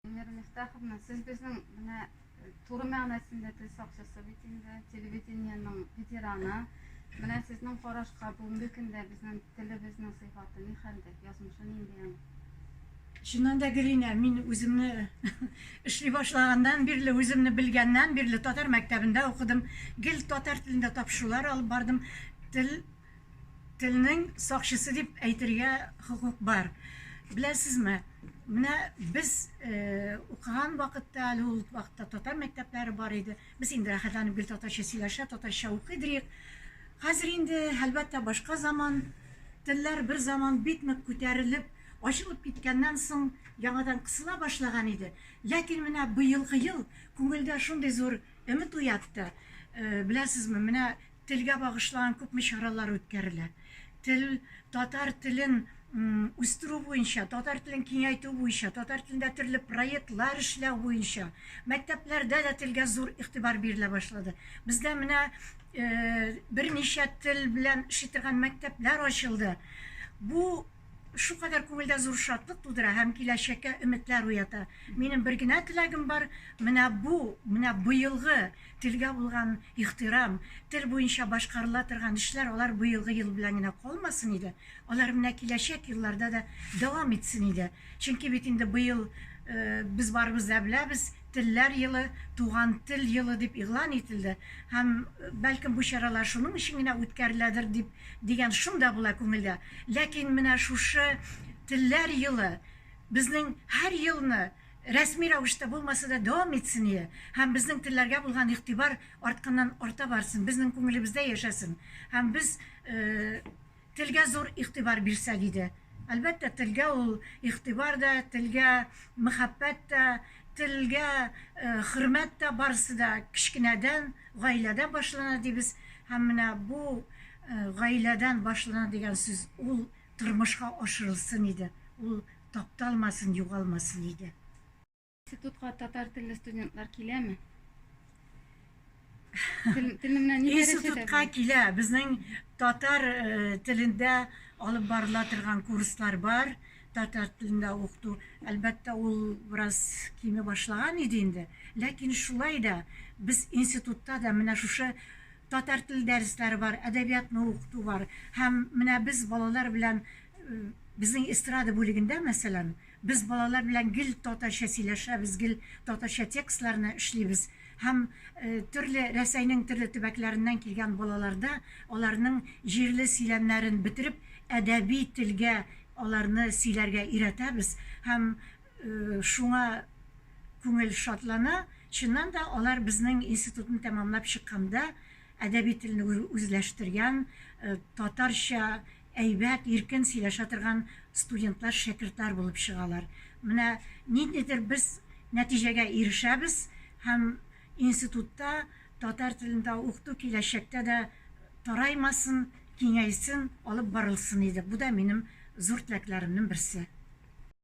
Венера Мифтаховна, сез безнең менә э, туры мәгънәсендә тел сакчысы бит инде, телевидениенең ветераны. Менә сезнең карашка бүгенге көндә безнең телебезнең сыйфаты ни хәлдә, язмышы нинди аның? Чыннан да Гелина, мин үземне эшли башлаганнан бирле, үземне белгәннән бирле татар мәктәбендә укыдым. Гел татар телендә тапшырулар алып бардым. Тел Телнең сакчысы дип әйтергә хокук бар. Беләсезме, менә без укыган вакытта, әле ул вакытта татар мәктәпләре бар иде. Без инде рәхәтләнеп гел татарча сөйләшә, татарча укый идек. Хәзер инде, әлбәттә, башка заман. Телләр бер заман бик нык күтәрелеп, ачылып киткәннән соң, яңадан кысыла башлаган иде. Ләкин менә быелгы ел күңелдә шундый зур өмет уятты. Беләсезме, менә Телгә багышлаган күпме чаралар үткәрелә. Тел, татар телен үстерү буенча, татар телен киңәйтү буенча, татар телендә төрле проектлар эшләү буенча, мәктәпләрдә дә телгә зур игътибар бирелә башлады. Бездә менә э, берничә тел белән эшли торган мәктәпләр ачылды. Бу Шукадәр күңелдә зур шатлык тудыра һәм киләчәккә өметләр уята. Минем бер генә теләгем бар, менә бу, менә быелгы телгә булган ихтирам, тел буенча башкарыла торган эшләр алар быелгы ел белән генә калмасын иде, алар менә киләчәк елларда да дәвам итсен иде. Чөнки бит инде быел без барыбыз да беләбез, Телләр елы, Туган тел елы дип игълан ителде һәм, бәлкем, бу чаралар шуның өчен генә үткәреләдер дип, дигән шом да була күңелдә. Ләкин менә шушы Телләр елы безнең һәр елны, рәсми рәвештә булмаса да, дәвам итсение һәм безнең телләргә булган игътибар артканнан-арта барсын, безнең күңелебездә яшәсен һәм без, Телгә зур игътибар бирсәк иде. Әлбәттә, телгә ул игътибар да, телгә мәхәббәт тә, телгә хөрмәт тә, барысы да кечкенәдән, гаиләдән башлана дибез. Һәм менә бу гаиләдән башлана дигән сүз, ул тормышка ашырылсын иде, ул тапталмасын, югалмасын иде. Институтка татар телле студентлар киләме? Телемнән ни Институтка килә. Безнең татар э, телендә алып барыла торган курслар бар. Татар телендә укыту, әлбәттә, ул бераз кими башлаган иде инде. Ләкин шулай да без институтта да менә шушы татар тел дәресләре бар, әдәбиятны укыту бар. Һәм менә без балалар белән э, безнең эстрада бүлегендә, мәсәлән, Без балалар белән гел татарча сөйләшәбез, гел татарча текстларны эшлибез һәм төрле Рәсәйнең төрле төбәкләреннән килгән балаларда аларның җирле сөйләмнәрен бетереп, әдәби телгә аларны сөйләргә өйрәтәбез һәм шуңа күңел шатлана. Чыннан да, алар безнең институтны тәмамлап чыкканда әдәби телне үзләштергән, татарча әйбәт, иркен сөйләшә торган студентлар шәкертләр булып чыгалар. Менә ниндидер без нәтиҗәгә ирешәбез һәм институтта татар телендә укыту киләчәктә дә тараймасын, киңәйсен, алып барылсын иде. Бу да минем зур теләкләремнең берсе.